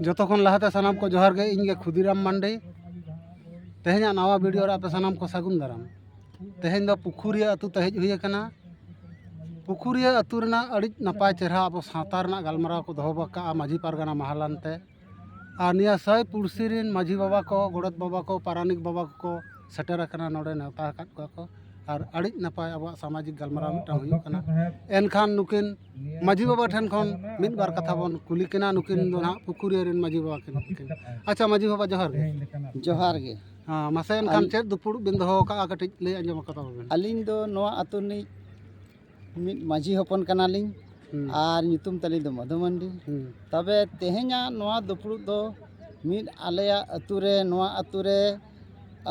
ᱡᱚᱛᱚ ᱠᱷᱚᱱ ᱞᱟᱦᱟᱛᱮ ᱥᱟᱱᱟᱢ ᱠᱚ ᱡᱚᱦᱟᱨ ᱜᱮ ᱤᱧ ᱜᱮ ᱠᱷᱩᱫᱤᱨᱟᱢ ᱢᱟᱱᱰᱤ ᱛᱮᱦᱮᱧᱟᱜ ᱱᱟᱣᱟ ᱵᱷᱤᱰᱤᱭᱳ ᱨᱮ ᱟᱯᱮ ᱥᱟᱱᱟᱢ ᱠᱚ ᱥᱟᱹᱜᱩᱱ ᱫᱟᱨᱟᱢ ᱛᱮᱦᱮᱧ ᱫᱚ ᱯᱩᱠᱷᱩᱨᱤᱭᱟᱹ ᱟᱹᱛᱩ ᱛᱮ ᱦᱮᱡ ᱦᱩᱭ ᱟᱠᱟᱱᱟ ᱯᱩᱠᱷᱩᱨᱤᱭᱟᱹ ᱟᱹᱛᱩ ᱨᱮᱱᱟᱜ ᱟᱹᱰᱤ ᱱᱟᱯᱟᱭ ᱪᱮᱦᱨᱟ ᱟᱵᱚ ᱥᱟᱶᱛᱟ ᱨᱮᱱᱟᱜ ᱜᱟᱞᱢᱟᱨᱟᱣ ᱠᱚ ᱫᱚᱦᱚ ᱟᱠᱟᱫᱼᱟ ᱢᱟᱹᱡᱷᱤ ᱯᱟᱨᱜᱟᱱᱟ ᱢᱟᱦᱟᱞᱟᱱ ᱛᱮ ᱟᱨ ᱱᱤᱭᱟᱹ ᱥᱟᱭ ᱯᱩᱲᱥᱤ ᱨᱮᱱ ᱢᱟᱹᱡᱷᱤ ᱵᱟᱵᱟ ᱠᱚ ᱜᱚᱰᱮᱛ ᱵᱟᱵᱟ ᱠᱚ ᱯᱟᱨᱟᱱᱤᱠ ᱵᱟᱵᱟ ᱠᱚᱠᱚ ᱥᱮᱴᱮᱨ ᱟᱠᱟᱱᱟ ᱱᱚᱰᱮ ᱱᱮᱣᱛᱟ ᱟᱠᱟᱫ ᱠᱚᱣᱟ ᱠᱚ ᱟᱨ ᱟᱹᱰᱤ ᱱᱟᱯᱟᱭ ᱟᱵᱚᱣᱟᱜ ᱥᱟᱢᱟᱡᱤᱠ ᱜᱟᱞᱢᱟᱨᱟᱣ ᱢᱤᱫᱴᱟᱝ ᱦᱩᱭᱩᱜ ᱠᱟᱱᱟ ᱮᱱᱠᱷᱟᱱ ᱱᱩᱠᱤᱱ ᱢᱟᱹᱡᱷᱤ ᱵᱟᱵᱟ ᱴᱷᱮᱱ ᱠᱷᱚᱱ ᱢᱤᱫ ᱵᱟᱨ ᱠᱟᱛᱷᱟ ᱵᱚᱱ ᱠᱩᱞᱤ ᱠᱤᱱᱟ ᱱᱩᱠᱤᱱ ᱫᱚ ᱦᱟᱸᱜ ᱯᱩᱠᱷᱩᱨᱤᱭᱟᱹ ᱨᱮᱱ ᱢᱟᱹᱡᱷᱤ ᱵᱟᱵᱟ ᱠᱟᱱᱟ ᱠᱤᱱ ᱟᱪᱪᱷᱟ ᱢᱟᱹᱡᱷᱤ ᱵᱟᱵᱟ ᱡᱚᱦᱟᱨ ᱜᱮ ᱡᱚᱦᱟᱨ ᱜᱮ ᱦᱮᱸ ᱢᱟᱥᱮ ᱮᱱᱠᱷᱟᱱ ᱪᱮᱫ ᱫᱩᱯᱩᱲᱩᱵ ᱵᱤᱱ ᱫᱚᱦᱚ ᱟᱠᱟᱫᱼᱟ ᱠᱟᱹᱴᱤᱡ ᱞᱟᱹᱭ ᱟᱸᱡᱚᱢ ᱟᱠᱚ ᱛᱟᱵᱚᱱ ᱵᱤᱱ ᱟᱹᱞᱤᱧ ᱫᱚ ᱱᱚᱣᱟ ᱟᱹᱛᱩ ᱨᱤᱱᱤᱡ ᱢᱤᱫ ᱢᱟᱹᱡᱷᱤ ᱦᱚᱯᱚᱱ ᱠᱟᱱᱟᱞᱤᱧ ᱟᱨ ᱧᱩᱛᱩᱢ ᱛᱟᱹᱞᱤᱧ ᱫᱚ ᱢᱚᱫᱷᱩ ᱢᱟᱱᱰᱤ ᱛᱚᱵᱮ ᱛᱮᱦᱮᱧᱟᱜ ᱱᱚᱣᱟ ᱫᱩᱯᱲᱩᱵ ᱫᱚ ᱢᱤᱫ ᱟᱞᱮᱭᱟᱜ ᱟᱹᱛᱩ ᱨᱮ ᱱᱚᱣᱟ ᱟᱹᱛᱩ ᱨᱮ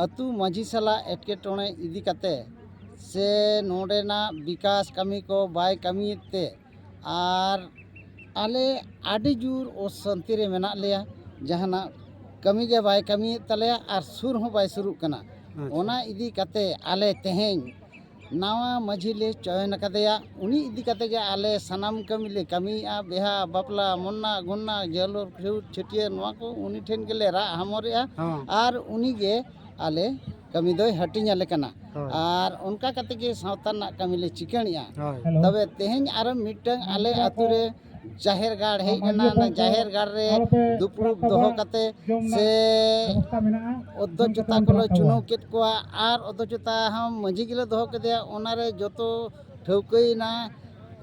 ᱟᱹᱛᱩ ᱢᱟᱹᱡᱷᱤ ᱥᱟᱞᱟᱜ ᱮᱴᱠᱮᱴᱚᱬᱮ ᱤᱫᱤ ᱠᱟᱛᱮ ᱥᱮ ᱱᱚᱰᱮᱱᱟᱜ ᱵᱤᱠᱟᱥ ᱠᱟᱹᱢᱤ ᱠᱚ ᱵᱟᱭ ᱠᱟᱹᱢᱤᱭᱮᱫ ᱛᱮ ᱟᱨ ᱟᱞᱮ ᱟᱹᱰᱤ ᱡᱳᱨ ᱚᱥᱟᱱᱛᱤ ᱨᱮ ᱢᱮᱱᱟᱜ ᱞᱮᱭᱟ ᱡᱟᱦᱟᱱᱟᱜ ᱠᱟᱹᱢᱤ ᱜᱮ ᱵᱟᱭ ᱠᱟᱹᱢᱤᱭᱮᱫ ᱛᱟᱞᱮᱭᱟ ᱟᱨ ᱥᱩᱨ ᱦᱚᱸ ᱵᱟᱭ ᱥᱩᱨᱩᱜ ᱠᱟᱱᱟ ᱚᱱᱟ ᱤᱫᱤ ᱠᱟᱛᱮ ᱟᱞᱮ ᱛᱮᱦᱮᱧ ᱱᱟᱣᱟ ᱢᱟᱺᱡᱷᱤ ᱞᱮ ᱪᱚᱭᱚᱱ ᱟᱠᱟᱫᱮᱭᱟ ᱩᱱᱤ ᱤᱫᱤ ᱠᱟᱛᱮ ᱜᱮ ᱟᱞᱮ ᱥᱟᱱᱟᱢ ᱠᱟᱹᱢᱤ ᱞᱮ ᱠᱟᱹᱢᱤᱭᱮᱜᱼᱟ ᱵᱤᱦᱟᱹ ᱵᱟᱯᱞᱟ ᱢᱚᱨᱱᱟ ᱜᱩᱨᱱᱟ ᱡᱟᱹᱨᱩᱲ ᱯᱷᱤᱨᱩᱛ ᱪᱷᱟᱹᱴᱭᱟᱹᱨ ᱱᱚᱣᱟ ᱠᱚ ᱩᱱᱤ ᱴᱷᱮᱱ ᱜᱮᱞᱮ ᱨᱟᱜ ᱦᱟᱢᱚᱨᱮᱜᱼᱟ ᱦᱚᱸ ᱟᱨ ᱩᱱᱤ ᱜᱮ ᱟᱞᱮ ᱠᱟᱹᱢᱤ ᱫᱚᱭ ᱦᱟᱹᱴᱤᱧ ᱟᱞᱮ ᱠᱟᱱᱟ ᱦᱳᱭ ᱟᱨ ᱚᱱᱠᱟ ᱠᱟᱛᱮ ᱜᱮ ᱥᱟᱶᱛᱟ ᱨᱮᱱᱟᱜ ᱠᱟᱹᱢᱤ ᱞᱮ ᱪᱤᱠᱟᱹᱲᱮᱜᱼᱟ ᱦᱳᱭ ᱛᱚᱵᱮ ᱛᱮᱦᱮᱧ ᱟᱨᱚ ᱢᱤᱫᱴᱟᱝ ᱟᱞᱮ ᱟᱛᱳ ᱨᱮ ᱡᱟᱦᱮᱨ ᱜᱟᱲ ᱦᱮᱡ ᱮᱱᱟ ᱚᱱᱟ ᱡᱟᱦᱮᱨ ᱜᱟᱲ ᱨᱮ ᱫᱩᱯᱲᱩᱵ ᱫᱚᱦᱚ ᱠᱟᱛᱮ ᱥᱮ ᱚᱫᱽᱫᱚᱪᱚᱛᱟ ᱠᱚᱞᱮ ᱪᱩᱱᱟᱹᱣ ᱠᱮᱫ ᱠᱚᱣᱟ ᱟᱨ ᱚᱫᱽᱫᱚᱪᱚᱛᱟ ᱦᱚᱸ ᱢᱟᱺᱡᱷᱤ ᱜᱮᱞᱮ ᱫᱚᱦᱚ ᱠᱮᱫᱮᱭᱟ ᱚᱱᱟᱨᱮ ᱡᱚᱛᱚ ᱴᱷᱟᱹᱣᱠᱟᱹᱭᱮᱱᱟ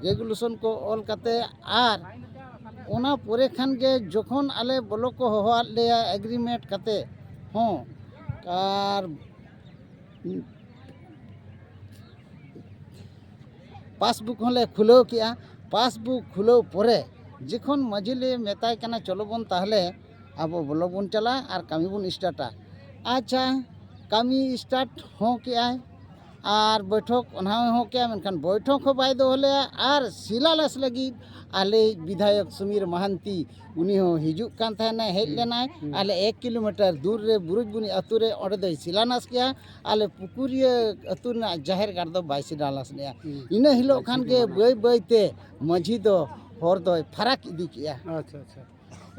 ᱨᱮᱜᱩᱞᱮᱥᱚᱱ ᱠᱚ ᱚᱞ ᱠᱟᱛᱮ ᱟᱨ ᱚᱱᱟ ᱯᱚᱨᱮ ᱠᱷᱟᱱ ᱜᱮ ᱡᱚᱠᱷᱚᱱ ᱟᱞᱮ ᱵᱚᱞᱚᱠ ᱠᱚ ᱦᱚᱦᱚᱣᱟᱫ ᱞᱮᱭᱟ ᱮᱜᱽᱨᱤᱢᱮᱱᱴ ᱠᱟᱛᱮ ᱦᱚᱸ ᱟᱨ ᱯᱟᱥᱵᱩᱠ ᱦᱚᱸᱞᱮ ᱠᱷᱩᱞᱟᱹᱣ ᱠᱮᱫᱼᱟ ᱯᱟᱥᱵᱩᱠ ᱠᱷᱩᱞᱟᱹᱣ ᱯᱚᱨᱮ ᱡᱚᱠᱷᱚᱱ ᱢᱟᱹᱡᱷᱤ ᱞᱮ ᱢᱮᱛᱟᱭ ᱠᱟᱱᱟ ᱪᱚᱞᱚ ᱵᱚᱱ ᱛᱟᱦᱚᱞᱮ ᱟᱵᱚ ᱵᱞᱚᱠ ᱵᱚᱱ ᱪᱟᱞᱟᱜᱼᱟ ᱟᱨ ᱠᱟᱹᱢᱤ ᱵᱚᱱ ᱥᱴᱟᱴᱟ ᱟᱪᱪᱷᱟ ᱠᱟᱹᱢᱤ ᱥᱴᱟᱴ ᱦᱚᱸ ᱠᱮᱫᱼᱟᱭ ᱟᱨ ᱵᱳᱭᱴᱷᱚᱠ ᱚᱱᱟ ᱦᱚᱸ ᱠᱮᱫᱼᱟᱭ ᱢᱮᱱᱠᱷᱟᱱ ᱵᱳᱭᱴᱷᱚᱠ ᱦᱚᱸ ᱵᱟᱭ ᱫᱚᱦᱚ ᱞᱮᱫᱼᱟ ᱟᱨ ᱥᱤᱞᱟᱞᱮᱥ ᱞᱟᱹᱜᱤᱫ ᱟᱞᱮᱭᱤᱡ ᱵᱤᱫᱷᱟᱭᱚᱠ ᱥᱩᱢᱤᱨ ᱢᱟᱦᱟᱱᱛᱤ ᱩᱱᱤ ᱦᱚᱸ ᱦᱤᱡᱩᱜ ᱠᱟᱱ ᱛᱟᱦᱮᱱᱟᱭ ᱦᱮᱡ ᱞᱮᱱᱟᱭ ᱟᱞᱮ ᱮᱠ ᱠᱤᱞᱳᱢᱤᱴᱟᱨ ᱫᱩᱨ ᱨᱮ ᱵᱩᱨᱩᱡᱽᱵᱩᱱᱤ ᱟᱹᱛᱩ ᱨᱮ ᱚᱸᱰᱮ ᱫᱚᱭ ᱥᱤᱞᱟᱱᱟᱥ ᱠᱮᱜᱼᱟ ᱟᱞᱮ ᱯᱩᱠᱩᱨᱤᱭᱟᱹ ᱟᱹᱛᱩ ᱨᱮᱱᱟᱜ ᱡᱟᱦᱮᱨ ᱜᱟᱲ ᱫᱚ ᱵᱟᱭ ᱥᱤᱞᱟᱱᱟᱥ ᱞᱮᱜᱼᱟ ᱤᱱᱟᱹ ᱦᱤᱞᱳᱜ ᱠᱷᱟᱱ ᱜᱮ ᱵᱟᱹᱭ ᱵᱟᱹᱭ ᱛᱮ ᱢᱟᱺᱡᱷᱤ ᱫᱚ ᱦᱚᱨ ᱫᱚᱭ ᱯᱷᱟᱨᱟᱠ ᱤᱫᱤ ᱠᱮᱜᱼᱟ ᱟᱪᱪᱷᱟ ᱟᱪᱪᱷᱟ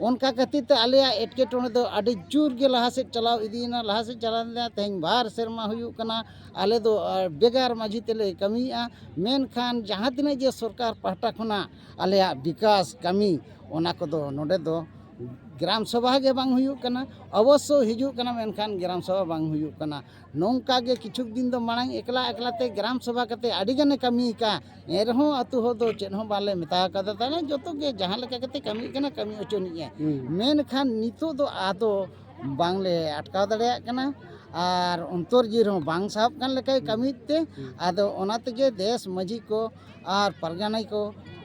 ᱚᱱᱠᱟ ᱠᱷᱟᱹᱛᱤᱨ ᱛᱮ ᱟᱞᱮᱭᱟᱜ ᱮᱴᱠᱮᱴᱚᱬᱮ ᱫᱚ ᱟᱹᱰᱤ ᱡᱳᱨ ᱜᱮ ᱞᱟᱦᱟ ᱥᱮᱫ ᱪᱟᱞᱟᱣ ᱤᱫᱤᱭᱮᱱᱟ ᱞᱟᱦᱟ ᱥᱮᱫ ᱪᱟᱞᱟᱣ ᱤᱫᱤᱭᱮᱱᱟ ᱛᱮᱦᱮᱧ ᱵᱟᱨ ᱥᱮᱨᱢᱟ ᱦᱩᱭᱩᱜ ᱠᱟᱱᱟ ᱟᱞᱮ ᱫᱚ ᱵᱷᱮᱜᱟᱨ ᱢᱟᱺᱡᱷᱤ ᱛᱮᱞᱮ ᱠᱟᱹᱢᱤᱭᱮᱜᱼᱟ ᱢᱮᱱᱠᱷᱟᱱ ᱡᱟᱦᱟᱸ ᱛᱤᱱᱟᱹᱜ ᱜᱮ ᱥᱚᱨᱠᱟᱨ ᱯᱟᱦᱴᱟ ᱠᱷᱚᱱᱟᱜ ᱟᱞᱮᱭᱟᱜ ᱵᱤᱠᱟᱥ ᱠᱟᱹᱢᱤ ᱚᱱᱟ ᱠᱚᱫᱚ ᱱᱚᱰᱮ ᱫᱚ ᱜᱨᱟᱢ ᱥᱚᱵᱷᱟ ᱜᱮ ᱵᱟᱝ ᱦᱩᱭᱩᱜ ᱠᱟᱱᱟ ᱚᱵᱚᱥᱥᱚ ᱦᱤᱡᱩᱜ ᱠᱟᱱᱟ ᱢᱮᱱᱠᱷᱟᱱ ᱜᱨᱟᱢ ᱥᱚᱵᱷᱟ ᱵᱟᱝ ᱦᱩᱭᱩᱜ ᱠᱟᱱᱟ ᱱᱚᱝᱠᱟ ᱜᱮ ᱠᱤᱪᱷᱩ ᱫᱤᱱ ᱫᱚ ᱢᱟᱲᱟᱝ ᱮᱠᱞᱟ ᱮᱠᱞᱟ ᱛᱮ ᱜᱨᱟᱢ ᱥᱚᱵᱷᱟ ᱠᱟᱛᱮ ᱟᱹᱰᱤ ᱜᱟᱱᱮ ᱠᱟᱹᱢᱤ ᱟᱠᱟᱫᱼᱟ ᱮᱱ ᱨᱮᱦᱚᱸ ᱟᱛᱳ ᱦᱚᱲ ᱫᱚ ᱪᱮᱫ ᱦᱚᱸ ᱵᱟᱞᱮ ᱢᱮᱛᱟ ᱟᱠᱟᱫᱮ ᱛᱟᱦᱮᱱᱟ ᱡᱚᱛᱚ ᱜᱮ ᱡᱟᱦᱟᱸ ᱞᱮᱠᱟ ᱠᱟᱛᱮ ᱠᱟᱹᱢᱤ ᱠᱟᱱᱟ ᱠᱟᱹᱢᱤ ᱦᱚᱪᱚᱱᱤᱡᱼᱮ ᱢᱮᱱᱠᱷᱟᱱ ᱱᱤᱛᱚᱜ ᱫᱚ ᱟᱫᱚ ᱵᱟᱝ ᱞᱮ ᱟᱴᱠᱟᱣ ᱫᱟᱲᱮᱭᱟᱜ ᱠᱟᱱᱟ ᱟᱨ ᱚᱱᱛᱚᱨ ᱡᱤᱣᱤ ᱨᱮᱦᱚᱸ ᱵᱟᱝ ᱥᱟᱦᱚᱵ ᱠᱟᱱ ᱞᱮᱠᱟᱭ ᱠᱟᱹᱢᱤᱭᱮᱫ ᱛᱮ ᱟᱫᱚ ᱚᱱᱟ ᱛᱮᱜᱮ ᱫᱮᱥ ᱢᱟᱹᱡᱷᱤ ᱠᱚ ᱟᱨ ᱯᱟᱨᱜᱟᱱᱟ ᱠᱚ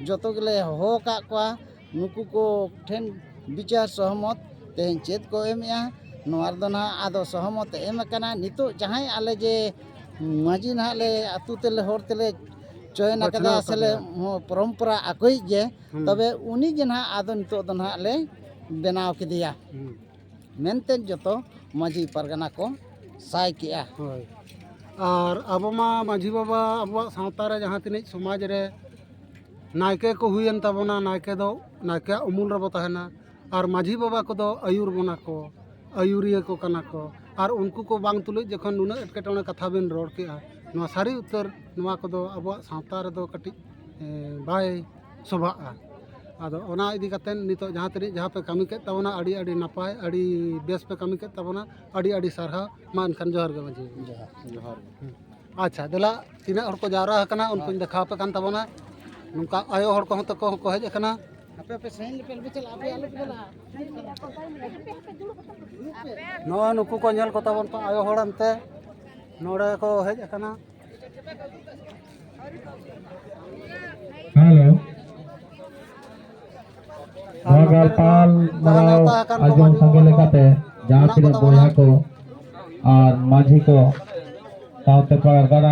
ᱡᱚᱛᱚ ᱜᱮᱞᱮ ᱦᱚᱦᱚ ᱟᱠᱟᱫ ᱠᱚᱣᱟ ᱱᱩᱠᱩ ᱠᱚ ᱴᱷᱮᱱ ᱵᱤᱪᱟᱹᱨ ᱥᱚᱦᱚᱢᱚᱛ ᱛᱮᱦᱮᱧ ᱪᱮᱫ ᱠᱚ ᱮᱢᱮᱜᱼᱟ ᱱᱚᱣᱟ ᱨᱮᱫᱚ ᱦᱟᱸᱜ ᱟᱫᱚ ᱥᱚᱦᱚᱢᱚᱛ ᱮᱢ ᱟᱠᱟᱱᱟ ᱱᱤᱛᱚᱜ ᱡᱟᱦᱟᱸᱭ ᱟᱞᱮ ᱡᱮ ᱢᱟᱹᱡᱷᱤ ᱦᱟᱸᱜ ᱞᱮ ᱟᱛᱳ ᱛᱮᱞᱮ ᱦᱚᱲ ᱛᱮᱞᱮ ᱪᱚᱭᱮᱱ ᱟᱠᱟᱫᱟ ᱥᱮᱞᱮ ᱯᱚᱨᱚᱢᱯᱚᱨᱟ ᱟᱠᱚᱭᱤᱡ ᱜᱮ ᱛᱚᱵᱮ ᱩᱱᱤ ᱜᱮ ᱦᱟᱸᱜ ᱟᱫᱚ ᱱᱤᱛᱚᱜ ᱫᱚ ᱦᱟᱸᱜ ᱞᱮ ᱵᱮᱱᱟᱣ ᱠᱮᱫᱮᱭᱟ ᱢᱮᱱᱛᱮ ᱡᱚᱛᱚ ᱢᱟᱹᱡᱷᱤ ᱯᱟᱨᱜᱟᱱᱟ ᱠᱚ ᱥᱟᱭ ᱠᱮᱜᱼᱟ ᱦᱳᱭ ᱟᱨ ᱟᱵᱚ ᱢᱟ ᱢᱟᱹᱡᱷᱤ ᱵᱟᱵᱟ ᱟᱵᱚᱣᱟᱜ ᱥᱟᱶᱛᱟ ᱨᱮ ᱡᱟᱦᱟᱸ ᱛᱤᱱᱟᱹᱜ ᱥᱚᱢᱟᱡᱽ ᱨᱮ ᱱᱟᱭᱠᱮ ᱠᱚ ᱦᱩᱭᱮᱱ ᱛᱟᱵᱚᱱᱟ ᱱᱟᱭᱠᱮ ᱫᱚ ᱱᱟᱭᱠᱮᱭᱟᱜ ᱩᱢᱩᱞ ᱨᱮᱵᱚ ᱛᱟᱦᱮᱱᱟ ᱟᱨ ᱢᱟᱹᱡᱷᱤ ᱵᱟᱵᱟ ᱠᱚᱫᱚ ᱟᱹᱭᱩᱨ ᱵᱚᱱᱟ ᱠᱚ ᱟᱹᱭᱩᱨᱤᱭᱟᱹ ᱠᱚ ᱠᱟᱱᱟ ᱠᱚ ᱟᱨ ᱩᱱᱠᱩ ᱠᱚ ᱵᱟᱝ ᱛᱩᱞᱩᱡ ᱡᱚᱠᱷᱚᱱ ᱱᱩᱱᱟᱹᱜ ᱮᱴᱠᱮᱴᱚᱬᱮ ᱠᱟᱛᱷᱟ ᱵᱮᱱ ᱨᱚᱲ ᱠᱮᱜᱼᱟ ᱱᱚᱣᱟ ᱥᱟᱹᱨᱤ ᱩᱛᱟᱹᱨ ᱱᱚᱣᱟ ᱠᱚᱫᱚ ᱟᱵᱚᱣᱟᱜ ᱥᱟᱶᱛᱟ ᱨᱮᱫᱚ ᱠᱟᱹᱴᱤᱡ ᱵᱟᱭ ᱥᱚᱵᱷᱟᱜᱼᱟ ᱟᱫᱚ ᱚᱱᱟ ᱤᱫᱤ ᱠᱟᱛᱮᱫ ᱱᱤᱛᱚᱜ ᱡᱟᱦᱟᱸ ᱛᱤᱱᱟᱹᱜ ᱡᱟᱦᱟᱸ ᱯᱮ ᱠᱟᱹᱢᱤ ᱠᱮᱫ ᱛᱟᱵᱚᱱᱟ ᱟᱹᱰᱤ ᱟᱹᱰᱤ ᱱᱟᱯᱟᱭ ᱟᱹᱰᱤ ᱵᱮᱥ ᱯᱮ ᱠᱟᱹᱢᱤ ᱠᱮᱫ ᱛᱟᱵᱚᱱᱟ ᱟᱹᱰᱤ ᱟᱹᱰᱤ ᱥᱟᱨᱦᱟᱣ ᱢᱟ ᱮᱱᱠᱷᱟᱱ ᱡᱚᱦᱟᱨ ᱜᱮ ᱢᱟᱺᱡᱷᱤ ᱡᱚᱦᱟᱨ ᱡᱚᱦᱟᱨ ᱟᱪᱪᱷᱟ ᱫᱮᱞᱟ ᱛᱤᱱᱟᱹᱜ ᱦᱚᱲ ᱠᱚ ᱡᱟᱣᱨᱟ ᱟᱠᱟᱱᱟ ᱩᱱᱠᱩᱧ ᱫᱮᱠᱷᱟᱣ ᱟᱯᱮ ᱠᱟᱱ ᱛᱟᱵᱚᱱᱟ ᱱᱚᱝᱠᱟ ᱟᱭᱳ ᱦᱚᱲ ᱠᱚᱦᱚᱸ ᱛᱟᱠᱚ ᱦᱚᱸᱠᱚ ᱦᱮᱡ ᱟᱠᱟᱱᱟ ᱟᱯᱮ ᱟᱯᱮ ᱥᱟᱺᱜᱤᱧ ᱞᱮᱯᱮ ᱟᱞᱚᱯᱮ ᱪᱟᱞᱟᱜᱼᱟ ᱟᱯᱮ ᱟᱞᱚᱯᱮ ᱪᱟᱞᱟᱜᱼᱟ ᱱᱚᱜᱼᱚᱭ ᱱᱩᱠᱩ ᱠᱚ ᱧᱮᱞ ᱠᱚᱛᱟ ᱵᱚᱱ ᱯᱮ ᱟᱭᱳ ᱦᱚᱲ ᱮᱱᱛᱮ ᱱᱚᱰᱮ ᱠᱚ ᱦᱮᱡ ᱟᱠᱟᱱᱟ ᱦᱮᱞᱳ ᱱᱚᱣᱟ ᱜᱟᱞᱯᱟᱞ ᱢᱟᱱᱟᱣ ᱟᱸᱡᱚᱢ ᱥᱟᱸᱜᱮ ᱞᱮᱠᱟᱛᱮ ᱡᱟᱦᱟᱸ ᱛᱤᱱᱟᱹᱜ ᱵᱚᱭᱦᱟ ᱠᱚ ᱟᱨ ᱢᱟᱹᱡᱷᱤ ᱠᱚ ᱥᱟᱶᱛᱮ ᱯᱟᱨᱜᱟᱱᱟ